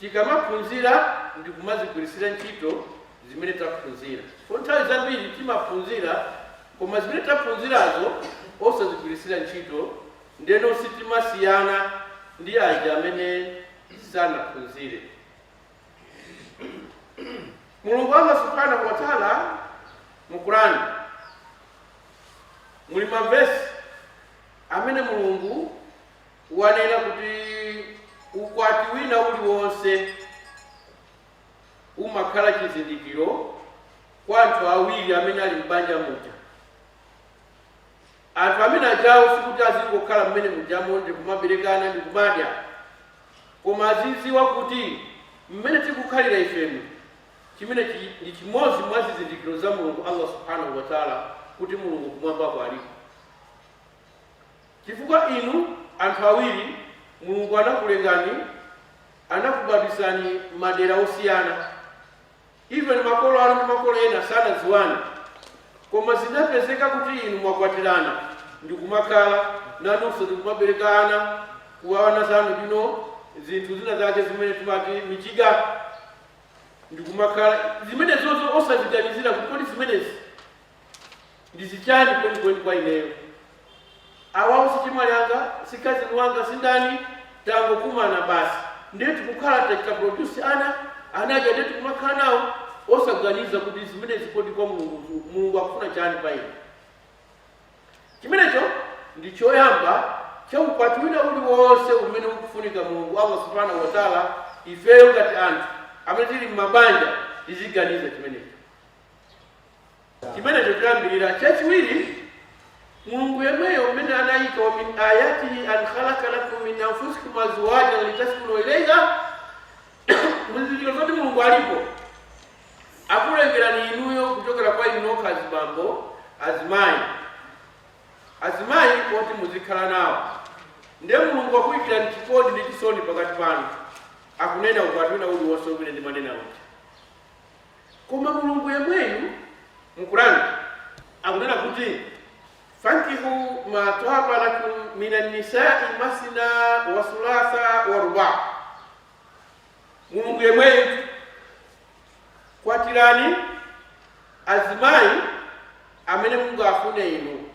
Tikamaphunzira ndi kumazigwirisira ntchito zimene taphunzira. Chifukwa nthawi zambiri timaphunzira koma zimene taphunzirazo osazigwirisira ntchito, ndeno sitimasiyana ndi aja amene sanaphunzire. Mulungu Allah Subhanahu wa Ta'ala mu Quran muli mavesi amene Mulungu wanena kuti ukwati wina uliwonse umakhala chizindikiro kwa anthu awiri amene ali m'banja muja. Anthu amene ajawo sikuti azingokhala mmene mujamo ndi kumaberekana ndi kumadya, koma azidziwa kuti mmene tikukhalira ifemu chimene ndi chimodzi mwa zizindikiro za Mulungu Allah subhanahu wa taala kuti Mulungu kumwambako aliko. Chifukwa inu anthu awiri Mulungu anakulengani anakubadwisani madera osiyana even makolo anu ndi makolo ena sanadziwane koma zinapezeka kuti inu mwakwatirana ndikumakhala nanunso ndikumaberekana kuwana zanu ndino zinthu zina zake zimene timati michiga ndikumakhala zimenezozo osaziganizira kuti kodi zimenezi Ndi zichani kwenikweni kwa ineyo? Awawo sichemwali anga, sikazini wanga, sindani, tangokumana basi nde tikukhala tachita produce ana, ana aja nde tikumakhala nawo osaganiza kuti zimenezi kodi kwa Mulungu akufuna chani pa ine? Chimenecho ndi choyamba cha ukwati wina uliwonse umene ukufunika Mulungu Allah Subhana Watala ifeyo ngati anthu amene tili mmabanja tiziganiza chimenecho. Chimenecho choyambirira. Chachiwiri, Mulungu yemweyo mmene anayika wa min ayatihi an khalaqa lakum min anfusikum azwajan litaskunu ilaiha muzizindikiro zoti Mulungu aliko akulengerani inuyo kuchokera kwa inu nokha azibambo azimayi azimayi oti muzikhala nawo ndiye Mulungu akuyikirani chikondi ndi chisoni pakati panu akunena ukwati wina uliwonse umene ndimanena uti Koma Mulungu yemweyu mu Quran akunena kuti, Fankihu ma twaba lakum minan nisai masna wa thulatha wa ruba. Mulungu yemweyu, kwatirani azimayi amene mungafune inu,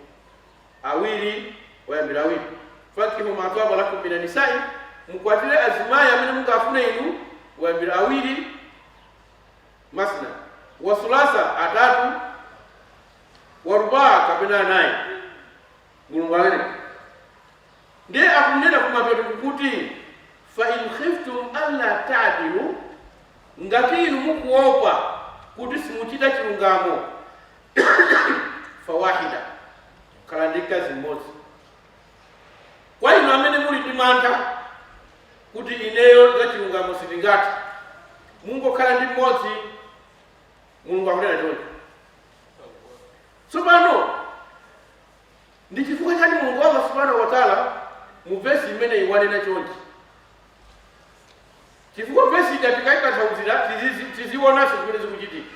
awiri muyambire awiri. Fankihu ma twaba lakum minan nisai, mukwatire azimayi amene mungafune inu, muyambire awiri mathna wa thulatha atatu wa rubaa kapena anayi mulungu amene ndiye akunena kumapeto kuti fa in khiftum alla ta'dilu ngati inu mukuopa kuti simuchita chilungamo fawahida khala ndi mkazi mmodzi Kwa inu amene muli ndi mantha kuti ineyo zachilungamo sindingathe, mungokhala ndi mmodzi, Mulungu akunena choncho. Tsopano ndi chifukwa chani Mulungu Allah subhanahu wa ta'ala mu vesi imeneyi wanena chonchi? Chifukwa vesi ija tikayitanthauzira tizizi- tizionanso zimene zikuchitika.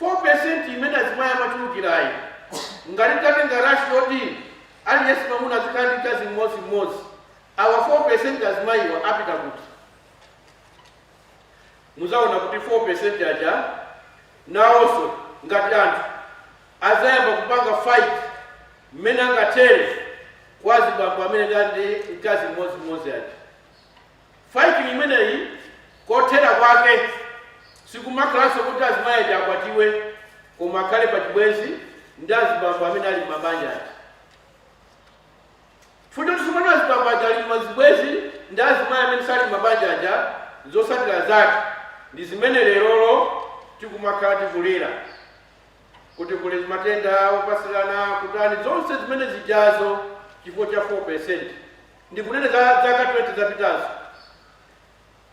4% imene azimayi amachulukirayi ngati titatenga ratio yoti aliyense mamuna azikhala ndi mkazi mmodzi mmodzi awa 4% azimayiwa apita kuti muzaona kuti 4% aja nawonso ngati anthu azayamba kupanga fight mmene angathere kwa azibambo amene ali ndi mkazi mmodzi mmodzi aja Fighting imeneyi kothera kwake sikumakhalanso kuti azimayi aja akwatiwe koma akhale pa chibwenzi ndi azibambo amene ali m'mabanja aja. Futi kuti tsopano azibambo aja ali m'mazibwenzi ndi azimayi amene sali m'mabanja aja zotsatira zake ndi zimene lerolo tikumakhala tikulira kuti kuli matenda opatsirana kutani zonse zimene zijazo chifukwa cha 4%. Ndikunena za zaka 20 zapitazo.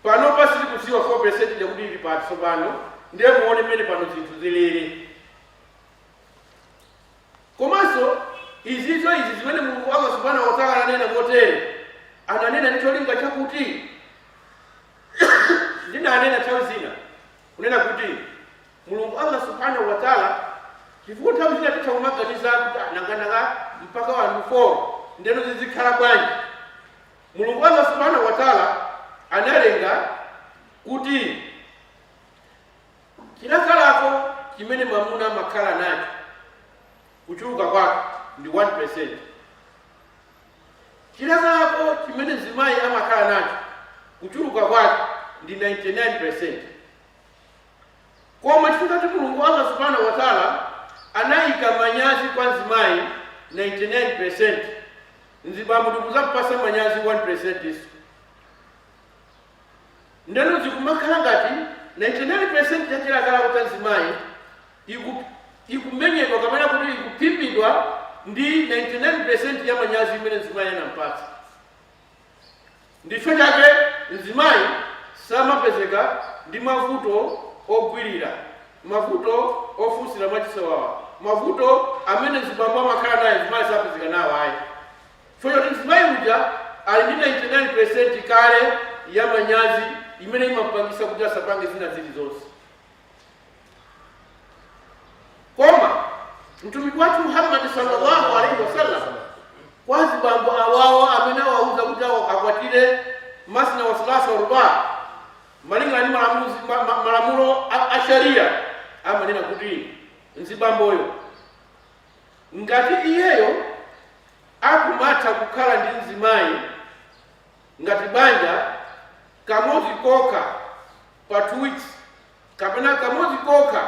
Panopa sitikudziwa 4 percent ija kuti ili pati tsopano, ndiye muone mmene pano zinthu zilili. Komanso izizo izi zimene Mulungu Allah subhanahu wa ta'ala ananena motere, ananena ndi cholinga chakuti ndinanena nthawi zina kunena kuti Mulungu Allah Subhaanah wa Ta'la chifukwa nthawi zina titha kumaganiza kuti ah, nanga nanga mpaka wanthu 4 ndeno zizikhala bwanji Mulungu Allah Subhaanah wa Ta'la analenga kuti chilakalako chimene mwamuna amakhala nacho kuchuluka kwake ndi 1% chilakalako chimene mzimayi amakhala nacho kuchuluka kwake ndi 99% Koma chifukwa choti Mulungu Allah Subhana Watala anaika manyazi kwa mzimayi 99%, mzibambo ndikuzampatsa manyazi 1% nso. Ndeno zikumakhala ngati 99% ya chilakalako cha mzimayi iku, ikumenyedwa kapena kuti ikuphimbidwa ndi 99% ya manyazi imene mzimayi anampatsa. Ndicho chake mzimayi samapezeka ndi mavuto ogwirira, mavuto ofunsira mwachisawawa, mavuto amene mzibambo amakhala naye mzimayi sapezeka nawo ayi chifukwa choti mzimayi uja ali ndi 99 peresenti kale ya manyazi imene imampangisa kuti asapange zina zili zonse. koma mtumiki wathu muhammadi sallallahu alaihi wasallam kwa azibambo awawo amene awauza kuti awa- akwatire masna wa sulasa wa ruba malingana ndi malamuzi- ma- ma- malamulo a- a sharia amanena kuti mzibamboyo ngati iyeyo akumatha kukhala ndi mzimayi ngati banja kamodzi kokha pa two weeks kapena kamodzi kokha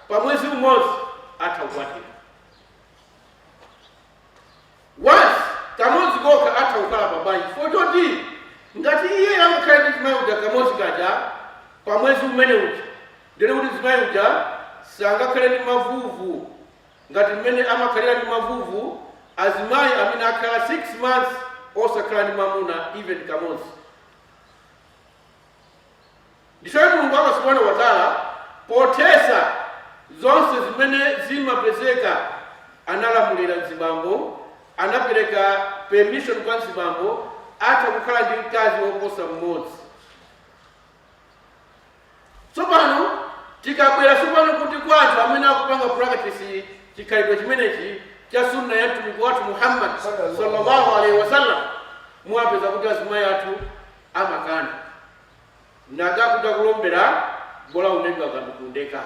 pa mwezi umodzi atha kukwatira once kamodzi kokha atha kukhala pa banja chifukwa choti ngati iye amakhala ndi mzimayi uja kamodzi kaja pa mwezi umene uja ndiye kuti mzimayi uja sangakhale ndi mavuvu ngati mmene amakhalira ndi mavuvu azimayi amene akhala 6 months osakhala ndi mamuna even kamodzi Ndicho chake Mulungu Allah Subhaanah wa Ta'la pothetsa zonse zimene zimapezeka analamulira mzibambo, anapereka permission kwa mzibambo atha kukhala ndi mkazi woposa mmodzi. Tsopano tikabwera tsopano kuti kwa anthu amene akupanga practice chikhalidwe chimenechi cha sunna ya mtumiki wathu Muhammad sallallahu alaihi wasallam, muwapeza kuti azimayi athu amakana naga kutakulombela bola unedwa kandukundeka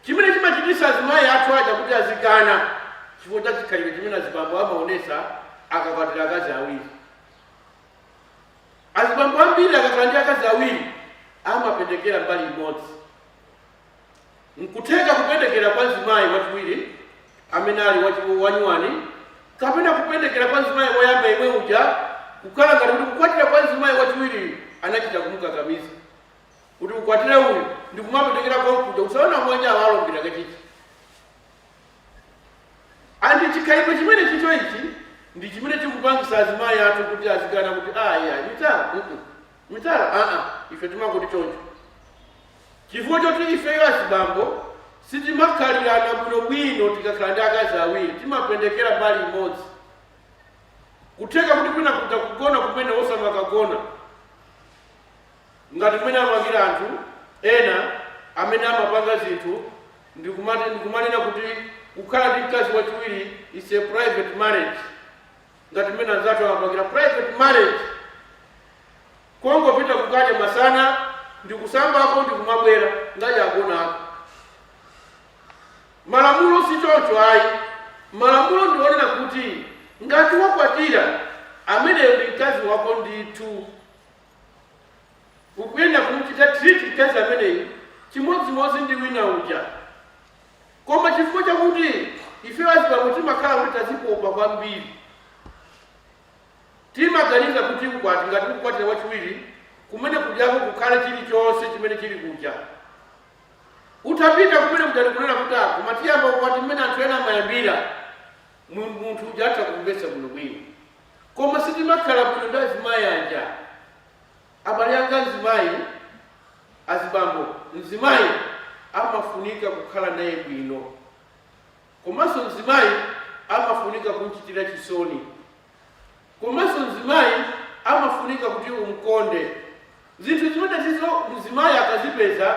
chimene chimachitisa azimayi athu aja kuti azikana chifukwa cha chikhalidwe chimene azibambo amaonesa akakwatira akazi awiri azibambo ambiri akakhala ndi akazi awiri amapendekera mbali imodzi N'kutheka kupendekera kwa mzimayi wachiwiri amene ali wachi- wanyuwani kapena kupendekera kwa mzimayi woyamba yemwe uja kukhala ngati kuti kukwatira kwa mzimayi wachiwiriyu anachita kumukakamiza kuti ukwatire uyu ndi kumapendekera konkuja usaona mwenye awalombera kachichi andi chikhalidwe chimene chicho ichi ndi chimene chikupangisa azimayi athu kuti azikana kuti aya mitala mm mitala aa ife timangoti choncho Chifukwa choti ifeyo azibambo sitimakhalirana bwinobwino tikakhala ndi akazi awiri, timapendekera mbali imodzi. Nkutheka kuti kwina kuja kugona kumene osamakagona ngati mmene amapangira anthu ena amene amapanga zinthu ndikumanena kuti kukhala ndi mkazi wachiwiri is a private marriage ngati mmene anzathu amapangira private marriage Kungopita kukadya masana ndikusambako ndikumabwera ngati agonako. Malamulo si choncho ayi. Malamulo ndi onena kuti ngati wakwatira, ameneyo ndi mkazi wako ndithu. Ukuyenera kumuchita treat mkazi ameneyu chimodzimodzi ndi wina uja. Koma chifukwa chakuti ifeyo azibambo timakhala kuti tazipopa kwambiri, Timaganiza kuti ukwati, ngati ukukwatira wachiwiri, kumene kujako kukhale chilichonse chimene chili kuja. Utapita kumene kuja ndikunena kuti, ah, koma tiyamba ukwati mmene anthu ena amayambira, mu, munthu uja atha kumvetsa bwinobwino. Koma sitimakhala bwino ndi azimayi aja. Abale anga mzimayi, azibambo, mzimayi amafunika kukhala naye bwino. komanso mzimayi amafunika kumchitira chisoni, komanso mzimayi amafunika kuti umkonde. Zinthu zimenezizo mzimayi akazipeza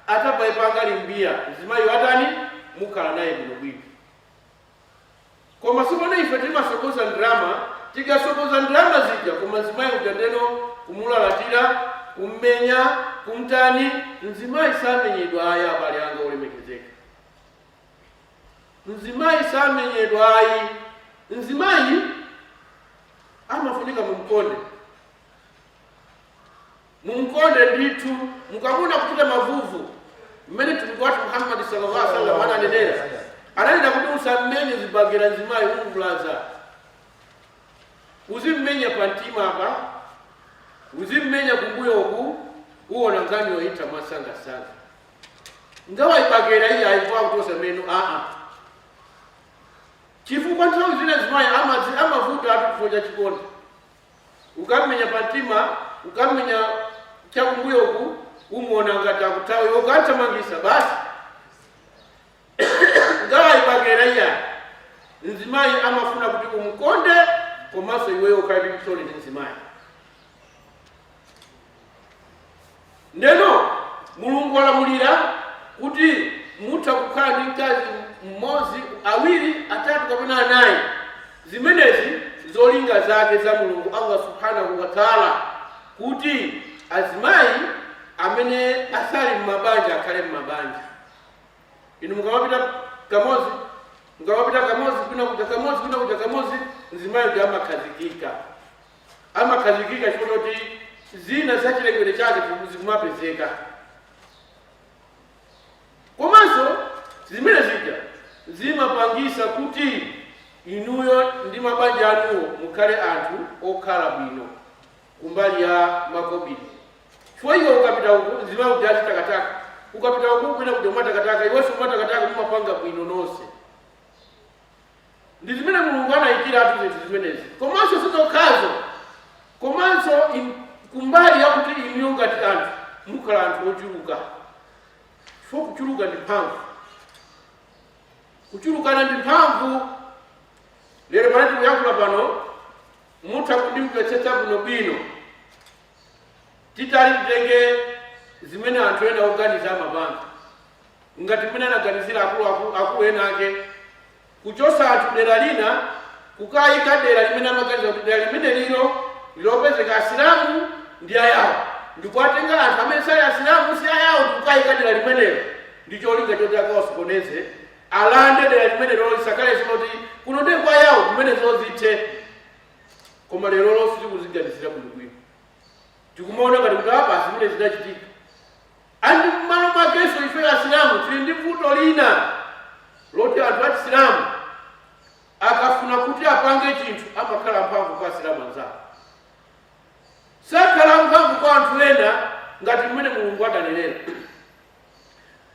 atapaipanga limbiya, mzimayi watani mukhala naye bwinobwino. Koma tsopano ife timatsogoza ndalama, tikatsogoza ndalama zija, koma mzimayi uja ndeno kumulalatira, kummenya, kumtani. Mzimayi samenyedwa ayi, abale anga olemekezeka. mzimayi samenyedwa ayi mzimayi amafunika mumkonde mumkonde ndithu mukamuona akuchita mavuvu mmene mtumiki wathu muhammadi sallallahu alaihi wasallam ananenera ananena kuti usammenye zibagera mzimayi umvulaza uzimmenya pa mtima apa uzimmenya kumbuyoku uwona nkhaniyo itha mwasangasanga ngawa ibakera iyayi chifukwa akuchosa meno aa chifukwa nthawi zina mzimayi amavutatu chifukwa cha chikondi ukamenya pa mtima ukamenya chakumbuyoku umuona ngati akuthawa ukathamangisa basi ngawa ibakera iyayi mzimayi amafuna kuti umukonde komanso iweyo ukhale ndi chisoni ndi mzimayi ndeno mulungu walamulira kuti mutha kukhala ndi mkazi mmodzi awiri atatu kapena anayi zimenezi zolinga zake za mulungu allah subhanahu wataala kuti azimayi amene asali mmabanja akhale mmabanja inu mukamapita kamodzi mukamapita kamodzi kwina kuja kamodzi kwina kuja kamodzi mzimayi uja amakhazikika amakhazikika chifukwa choti zina za chilengedwe chake zikumapezeka komanso zimene zija zimapangisa kuti inuyo ndi mabanja anuwo mukhale anthu okhala bwino kumbali ya makobiri chifukwa iwe ukapita uku mzimayi uja azitakataka ukapita uku kwina kuja umatakataka iwenso umatakataka mumapanga bwino nonse Ndi zimene Mulungu anaikira zinthu zimenezi, komanso si zokhazo, komanso kumbali yakuti inuyo ngati anthu mukhala anthu ochuluka, chifukwa kuchuluka ndi mphamvu, kuchulukana ndi mphamvu. Lero pamene tikuyankhula pano, mutha kundimvetsetsa bwinobwino titali titenge zimene anthu ena oganiza amapanga ngati mmene anaganizira akulu ena ake Kuchotsa anthu dera lina kukaika dera limene amaganiza kuti dera limenelilo ndi lopezeka Asilamu ndi a Yawo, ndikuwatenga anthu amene sali Asilamu si a Yawo ndikukaika dera limenelo ndi cholinga choti akawasokoneze, alande dera limenelolo lisakhalenso loti kuno ndiye kwa Yawo zimenezo zithe. Koma lerolo sitikuziganizira bwinobwino, tikumaona ngati kuti apa zimene zinachitika And mmalo mwakenso ifeyo asilamu tili ndi vuto lina loti anthu achisilamu akafuna kuti apange chinthu amakhala amphamvu kwa asilamu anzawo. Sakhala amphamvu kwa anthu ena ngati mmene Mulungu adanenera.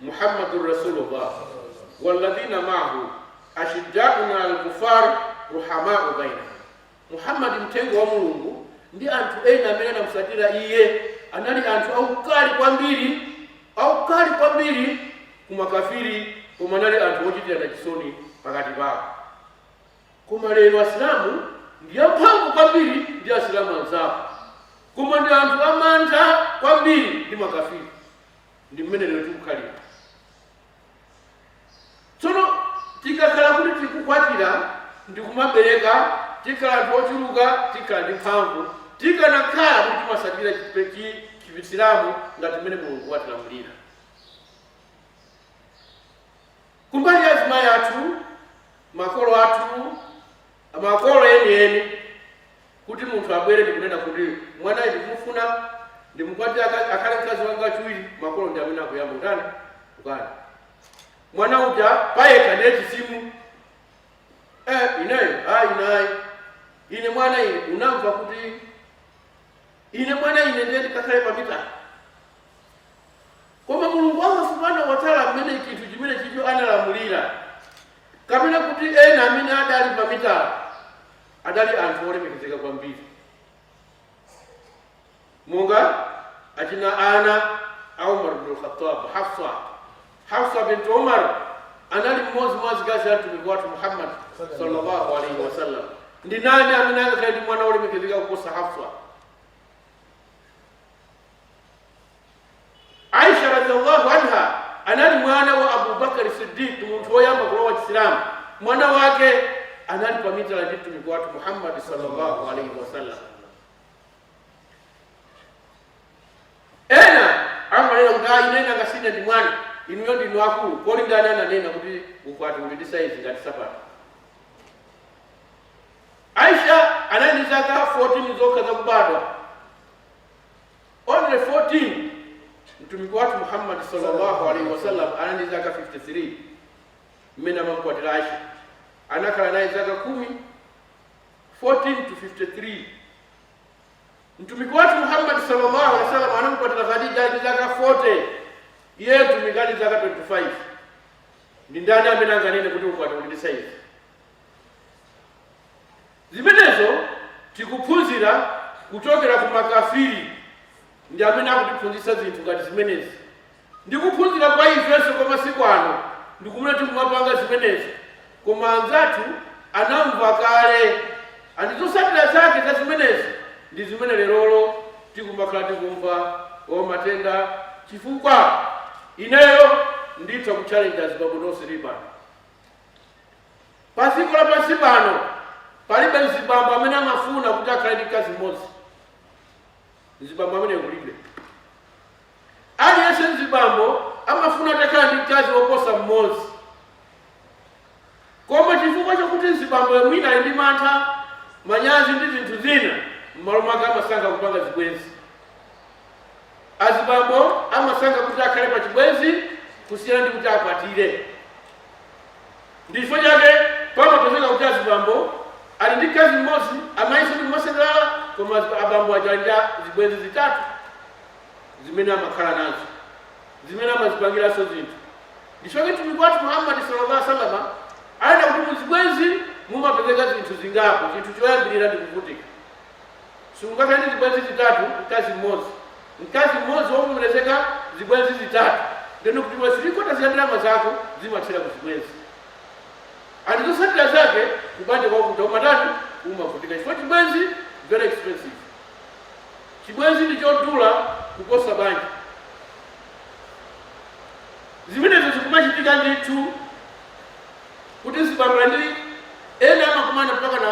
Muhammadur Rasulullah walladhina ma'ahu ashiddaun al kufar ruhamau bainahum. Muhammad, Mtenga wa Mulungu, ndi anthu ena amene anamusatira iye anali anthu aukali kwambiri, aukali kwambiri ku makafiri koma anali anthu ochitirana chisoni pakati pawo. Koma lero Asilamu ndi amphamvu kwambiri ndi Asilamu anzawo koma ndi anthu amantha kwambiri ndi makafiri. Ndi mmene lero tikukhalira. Tsono tikakhala kuti tikukwatira ndi kumabereka, tikhala anthu ochuluka, tikhala ndi mphamvu, tikanakhala kuti timasatira Chisilamu ngati mmene Mulungu watilamulira. Kumbali ya azimayi athu, makolo athu, makolo enieni. kuti munthu abwere ndi kunena kuti, Mwanayu ndikumufuna, ndimukwatire aka, akhale mkazi wanga wachiwiri, makolo ndi amene akuyamba kutani? Kukana. Mwana uja payekha ndiye chitsimu. Eh, ineyo, ayi ine ayi. Ine mwana ine, unamva kuti ine mwana ine ndiye ndikakhale pa mitala. Koma Mulungu Allah subhanahu wa ta'ala amene chinthu chimene chicho analamulira kapena kuti ena amene adali pa mitala adali anthu olemekezeka kwambiri monga achina ana a umar bnu lkhatab hafsa hafsa bintu umar anali mmodzi mwa azikazi a mtumiki wathu muhammad sallallahu alaihi wasallam ndi nani amene angakhale ndi mwana olemekezeka kuposa hafsa aisha radiallahu anha anali mwana wa abubakari siddiq munthu woyamba kulowa chisilamu mwana wake anali pamitala ndi mtumiki wathu muhammadi sallallahu alaihi wasallam ena amanena kuti ayi ine nanga si ine ndi mwana inuyo ndinu akulu kodi ndani ananena kuti ukwati uli ndi saizi ngati sapato aisha anali ndi zaka 14 zokha zakubadwa only 14 mtumiki wathu muhammad sallallahu alaihi wasallam anali ndi zaka 53 mmene amamkwatira aisha anakhala naye zaka kumi 14 to 53 mtumiki wathu muhammad sallallahu alaihi wasallam anamkwatira khadija ali ndi zaka 40 iye mtumiki ali zaka 25 ndi ndani amene anganene kuti ukwati uli ndi saizi Zimenezo tikuphunzira kuchokera ku makafiri ndi amene akutiphunzitsa zinthu ngati zimenezi ndi kuphunzira kwa ifenso kwa masiku ano ndikumene tikumapanga zimenezi koma anzathu anamva kale and zosatira zake za zimenezi ndi zimene lerolo tikumakhala tikumva o matenda chifukwa ineyo nditha kutchalenja azibambo nonse muli pano. Pa dziko lapansi pano palibe mzibambo amene amafuna kuti akhale ndi mkazi mmodzi. Mzibambo amene kulibe. Aliyense mzibambo amafuna atakhala ndi mkazi woposa mmodzi. Koma chifukwa chakuti mzibambo mwina ali ndi mantha, manyazi ndi zinthu zina, m'malo mwake amasankha kupanga zibwenzi. Azibambo amasankha kuti akhale pa chibwenzi kusiyana ndi kuti akwatire. Ndi chifukwa chake pamapezeka kuti azibambo ali ndi mkazi m'modzi, amayinso ndi kumasangalala, koma abambo aja ali ndi zibwenzi zitatu zimene amakhala nazo zimene amazipangiranso zinthu nchifukwa mtumiki wathu muhammadi sallallahu alaihi wasallam anena kuti muzibwenzi mumapezeka zinthu zingapo chinthu choyambirira ndi kuvutika Sungakhale ndi zibwenzi zitatu mkazi mmodzi. Mkazi mmodzi wovomerezeka, zibwenzi zitatu, ndiye kuti pa 3 quarters ya ndalama zako zimathera ku zibwenzi. And zotsatira zake kubanja kwavuta umatani? Umavutika chifukwa chibwenzi very expensive. Chibwenzi ndi chodula kuposa banja. Zimenezo zikumachitika ndithu kuti azibambo ena amakumana mpaka na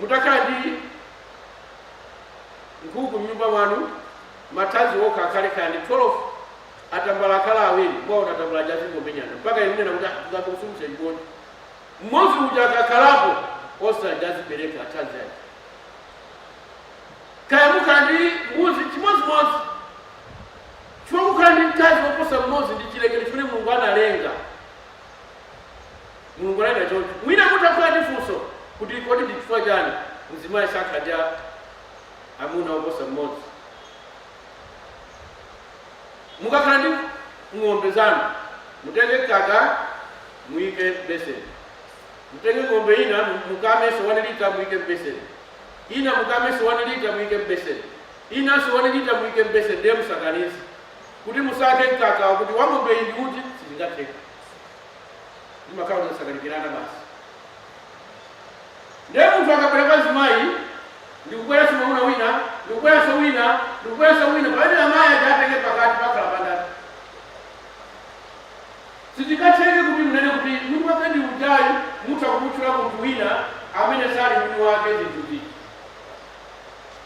Mutakhala ndi nkhuku m'nyumba mwanu, mathazi okha akhale kaya ndi 12, atambala akhala awiri, mukaona atambala aja azingomenyana mpaka inu munena kuti ah, ndingamusunthire chikondi. Mmodzi uja akakhalapo, onse aja azibereka mathazi aja. Kaya mukhala ndi mbuzi chimodzimodzi, chifukwa kukhala ndi mkazi woposa mmodzi ndi chilengedwe chimene Mulungu analenga. Mulungu analenga choncho. Mwina mutha kukhala ndi funso kuti, Kodi ndi chifukwa chani mzimayi sakhala ndi amuna oposa mmodzi? Mukakhala ndi ng'ombe zanu, mutenge mkaka muike m'beseni. Mutenge ng'ombe ina mukamenso 1 lita muike m'beseni. Ina mukamenso 1 lita muike m'beseni. Inanso 1 lita muike m'beseni ndiye musakanize kuti musankhe mkakawo kuti wa ng'ombe iyi ndi uti, sizingatheke. zimakhala zosakanikirana basi ndiye munthu akabwera kwa mzimayi ndikubweranso mwamuna wina ndikubweranso wina ndikubweranso wina pamene amayi aja atenge pakati pakhala pandani sizingatheke kuti munene kuti mwini wake ndi uyu ayi mutha kumutchula munthu wina amene sali mwini wake ndithupi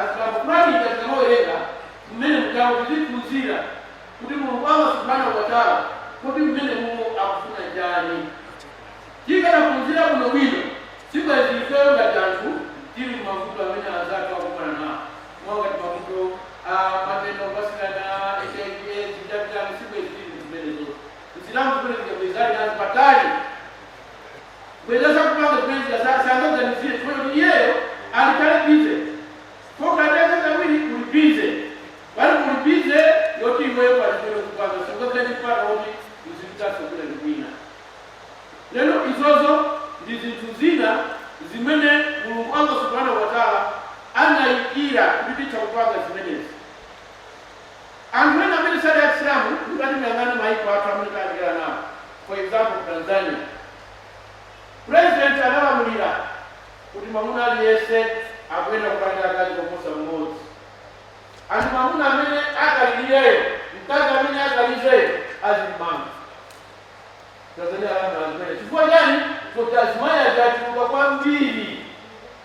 Asilamu Qurani tikamawerenga mmene mujamu tiziphunzira kuti Mulungu Allah Subhanahu wa Ta'ala kodi mmenemumo akufuna chani? Tikadaphunzira bwinobwino sibwenzi ifeyo ngati anthu tili mmavuto amene anzathu akukumana nawo mwa ngati mavuto a matenda opatsirana, hiv, aids chan chani sibwezi tili mzimenezotu. Msilamu zimene zija bwezi ali nazo patali. Bwezi zakupanga zimene zija sangaganizire chifukwa choti iyeyo ali kale busy. Pokhala ndi akazi awiri uli busy. Pali uli busy yoti iweyo pali chimene ukupanga siungakhale ndi mpata woti uzipitanso kwina ndi kwina. Ndeno izozo ndi zinthu zina zimene Mulungu Allah Subhanahu wa Ta'ala anaikira kuti titha kupanga zimenezi. Anthu ena amene sali a Chisilamu, mutati muyang'ane maiko athu amene tayandikana nawo, for example ku Tanzania, President analamulira kuti mwamuna aliyense akuyenera kukhala ndi akazi koposa mmodzi, and mwamuna amene akalilireyo, mkazi amene akanizeyo azimmanga. Tanzania alamula zimenezo. Chifukwa chani? Chifukwa choti azimayi aja achuluka kwambiri.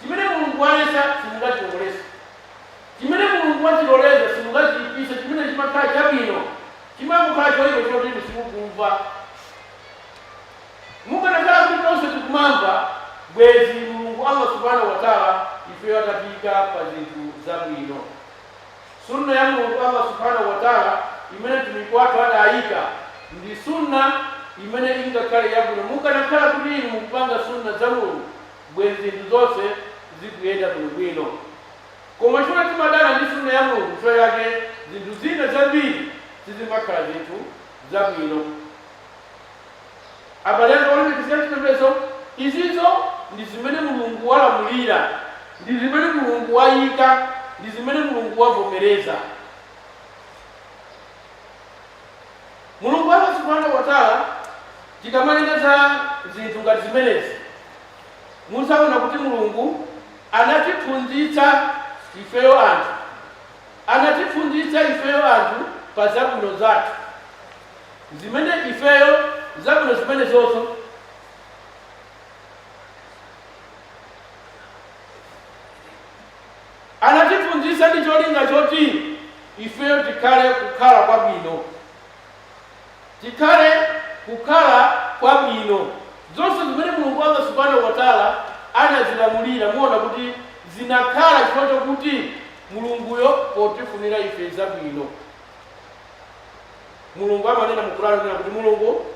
Chimene Mulungu waletsa, simungachiloleze. Chimene Mulungu wachiloleza, simungachiipise. Chimene chimakhala chabwino, chimangokhala choipa chifukwa choti inu simukumva. Mukanakhala kuti tonse tikumamva, bwezi Mulungu Allah Subhanahu wa Ta'ala ifeyo atatiika pa zinthu zabwino. Sunnah ya Mulungu Allah Subhanahu wa Ta'ala imene Mtumiki wathu adaika, ndi Sunnah imene ingakhale yabwino mukanakhala kuti inu mukupanga Sunnah za Mulungu. bwenzi zinthu zonse zikuyenda bwino bwino. Koma chifukwa timadana ndi Sunnah ya Mulungu chifukwa chake zinthu zina zambiri sizimakhala zinthu zabwino. Abale anga olemekezeka achipembedzo, izizo ndi zimene Mulungu walamulira, ndi zimene Mulungu wayika, ndi zimene Mulungu wavomereza. Mulungu Allah Subhanahu wa Ta'ala tikamalengeza zinthu ngati zimenezi muzaona kuti Mulungu anatiphunzitsa ifeyo anthu anatiphunzitsa ifeyo anthu pa zabwino zathu zimene ifeyo zabwino zimenezozo anatiphunzitsa ndi cholinga choti ifeyo tikhale kukhala kwabwino. Tikhale kukhala kwabwino. Zonse zimene Mulungu Allah Subhanahu wa Ta'ala anazilamulira muona kuti zinakhala chifukwa chokuti Mulunguyo potifunira ife zabwino. Mulungu amanena mu Qur'an kuti Mulungu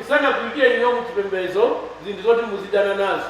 sangakuikire inu mu chipembedzo zinthu zoti muzidana nazo.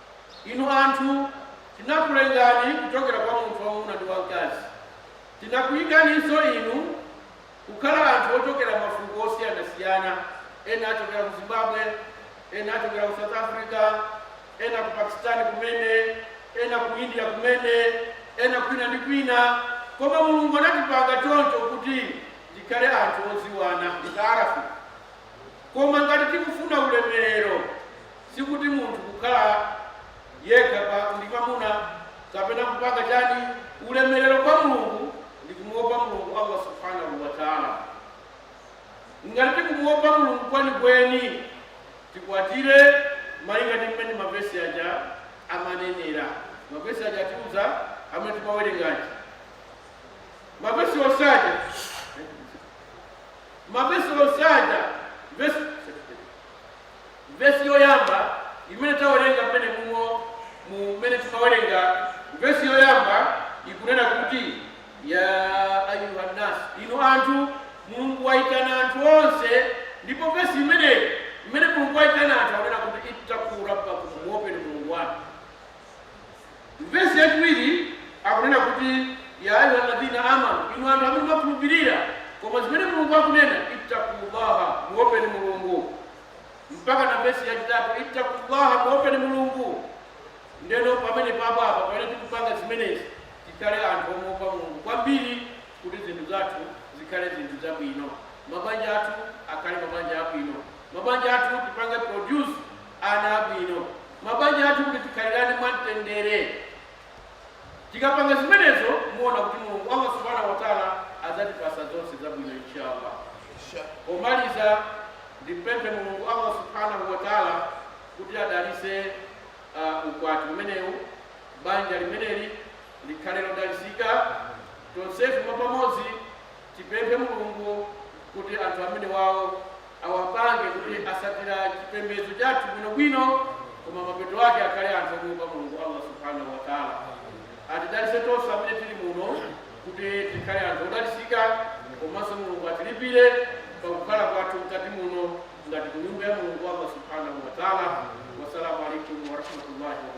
Inu anthu, tinakulengani kuchokera kwa munthu wamwamuna ndi wamkazi. Tinakuyikaninso inu kukhala anthu ochokera mafuko osiyanasiyana, ena achokera ku Zimbabwe, ena achokera ku South Africa, ena ku Pakistan kumene, ena ku India kumene, ena kwina ndi kwina. Koma Mulungu anatipanga choncho kuti tikhale anthu odziwana. Lita'arafu. Koma ngati tikufuna ulemerero. Sikuti munthu kukhala yekha pa ndi mamuna kapena kupanga chani ulemerero kwa Mulungu ndi kumuopa Mulungu Allah Subhanahu wa Ta'ala. Ngati tikumuopa Mulungu kwenikweni tikwatire malinga ndi mmene mavesi aja amanenera. Mavesi aja atiuza amene timawerenga aja. Mavesi onse aja mavesi onse aja vesi Vesi yoyamba imene tawerenga mmene mumo mmene timawerenga vesi yoyamba ikunena kuti, Ya ayyuhan-nas, inu anthu, Mulungu waitana anthu onse ndipo vesi imeneyi mmene Mulungu waitana anthu akunena kuti, Ittaqu Rabbakum, muopeni Mulungu wanu. Vesi yachiwiri akunena kuti, Ya ayuha ladhina amanu, inu anthu amene mwakhulupirira, koma zimene Mulungu akunena, Ittakullaha, muopeni Mulungu. Mpakana vesi yachitatu, Ittakullaha, muopeni Mulungu. Ndeno pamenepa apa pamene tikupanga zimenezi tikhale anthu omuopa Mulungu kwambiri kuti zinthu zathu zikhale zinthu zabwino, mabanja athu akhale mabanja abwino, mabanja athu tipange produce. ana abwino. Mabanja athu kuti tikhalirane mwa mtendere. Tikapanga zimenezo muona kuti Mulungu Allah Subhanahu wa Ta'ala adzatipasa zonse zabwino inshallah. Pomaliza ndipemphe Mulungu Allah Subhanahu wa Ta'ala kuti adalise uh, ukwati umenewu banja limeneli likhale lodalisika tonsefe mwapamodzi Tipemphe Mulungu kuti anthu amenewawo awapange kuti asatira chipembedzo chathu bwino bwino koma mapeto ake akhale anthu omuopa Mulungu Allah Subhanahu wa Ta'ala. Atidalise tonse amene tili muno kuti tikhale anthu odalisika komanso Mulungu atilipire pakukhala kwathu mkati muno ngati kunyumba ya Mulungu Allah Subhanahu wa Ta'ala. Wassalamu alaikum warahmatullahi wabarakatuh.